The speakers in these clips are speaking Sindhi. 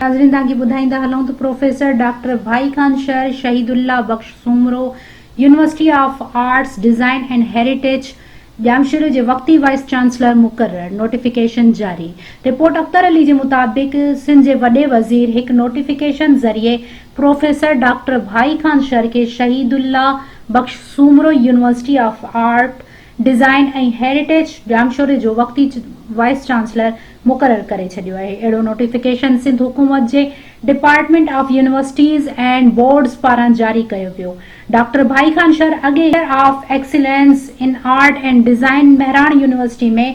ناظرين توهان کي ٻڌائيندا هلون ته professor doctor Bhai Khan Shar Shaheed Allah Bakhsh Soomro university of arts design and heritage ڄامشوري جي وقتي وائيس چانسلر مقرر نوٽيفڪيشن جاري رپورٽ اختر علي جي مطابق سنڌ جي وڏي وزير هڪ نوٽيفڪيشن ذريعي پروفيسر ڊاڪٽر ڀائي خان شرقي Shaheed Allah Bakhsh Soomro university of art, design ۽ heritage ڄامشوري جو وقتي وائيس چانسلر مقرر ڪري ڇڏيو آهي. اهڙو نوٽيفڪيشن سنڌ حڪومت جي department of universities and boards پاران جاري ڪيو ويو. ڊاڪٽر ڀائي خان شر اڳي centre of excellence in art and design Mehran university ۾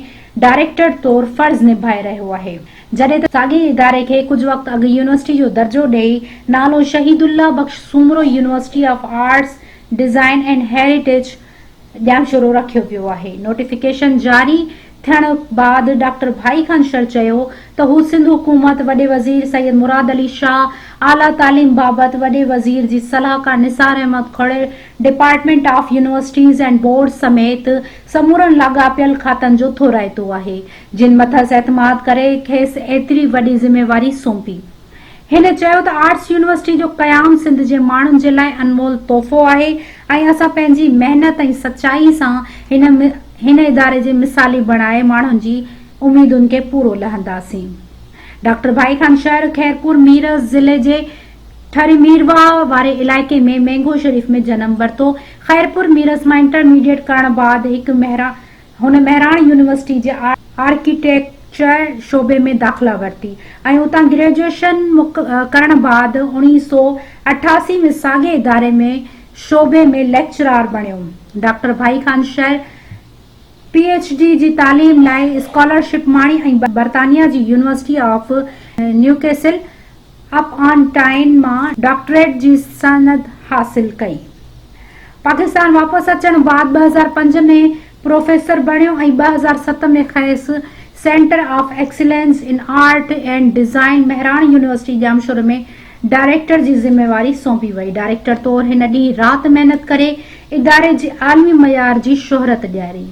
director طور فرض نڀائي رهيو آهي. جڏهن ته ساڳئي اداري کي ڪجهه وقت اڳ يونيورسٽي جو درجو ڏئي نالو Shaheed Allah Bakhsh Soomro university of arts, design and heritage Jamshoro رکيو ويو آهي. نوٽيفڪيشن جاري ٿيڻ بعد ڊاڪٽر ڀائي خان شر چيو ته هو سنڌ حڪومت، وڏي وزير سيد مراد علي شاهه، اعليٰ تعليم بابت وڏي وزير جي صلاحڪار نثار احمد کهڙي، department of universities and boards سميت سمورن لاڳاپيل کاتن جو ٿورائتو آهي جن مٿس اعتماد ڪري کيس ايتري وڏي ذميواري سونپي. هن چيو ته آرٽس يونيورسٽي جو قيام سنڌ جي ماڻهن جي لاء انمول تحفو آهي ۽ اسان پنهنجي محنت ۽ سچائي سان هن هن اداري جي مثالي بڻائي ماڻهن جي اميدن کي پورو لهنداسين. ڊاڪٽر ڀائي خان شهر خيرپور ميرس ضلعي جي ٺري ميرواهه واري علائقي ۾ مينگهو شريف ۾ جنم ورتو. خيرپور ميرس مان انٽرميڊيٽ ڪرڻ بعد هڪ مهراڻ هن مهراڻ يونيورسٽي جي آرڪيٽيڪچر شعبي ۾ داخلا ورتي ۽ اتان گريجوئيشن ڪرڻ بعد اوڻيهه سؤ اٺاسي ۾ ساڳئي اداري ۾ شعبي ۾ ليڪچرار بڻيو. Doctor Bhai Khan Shar P H D جي تعليم لاء اسڪالرشپ ماڻي ۽ برطانيا جي university of Newcastle upon Tyne مان ڊاڪٽريٽ جي سند حاصل ڪئي. پاڪستان واپس اچڻ بعد ٻه هزار پنج ۾ پروفيسر بڻيو ۽ ٻه هزار ست ۾ کيس centre of excellence in art and design Mehran university ڄامشوري ۾ ڊائريڪٽر جي ذميواري سونپي وئي. ڊائريڪٽر طور هن ڏينهن رات محنت ڪري اداري جي عالمي معيار جي شهرت ڏياري.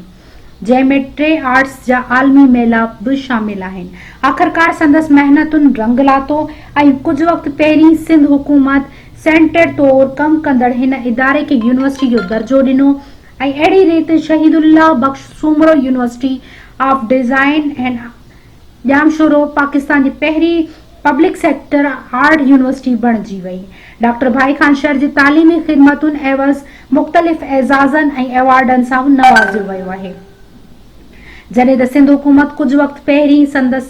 جنهن ۾ ٽي آرٽس جا عالمي ميلاپ به شامل آهن. آخرڪار سندس محنتن رنگ لاتو ۽ ڪجهه وقت پهرين سنڌ حڪومت سينٽر طور ڪم ڪندڙ هن اداري کي يونيورسٽي جو درجو ڏنو ۽ اهڙي ريت Shaheed Allah Bakhsh Soomro university of design and Jamshoro Pakistan جي پهرين پبلڪ سيڪٽر آرٽ يونيورسٽي بڻجي وئي. ڊاڪٽر ڀائي خان شر جي تعليمي خدمتن عيوض مختلف اعزازن ۽ ايوارڊن سان نوازيو ويو آهي. جڏهن ته سنڌ حڪومت ڪجهه وقت پهرين سندس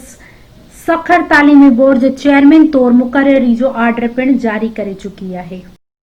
سکر تعليمي بورڊ جي چيئرمين طور مقرري جو آرڊر پڻ جاري ڪري چڪي آهي.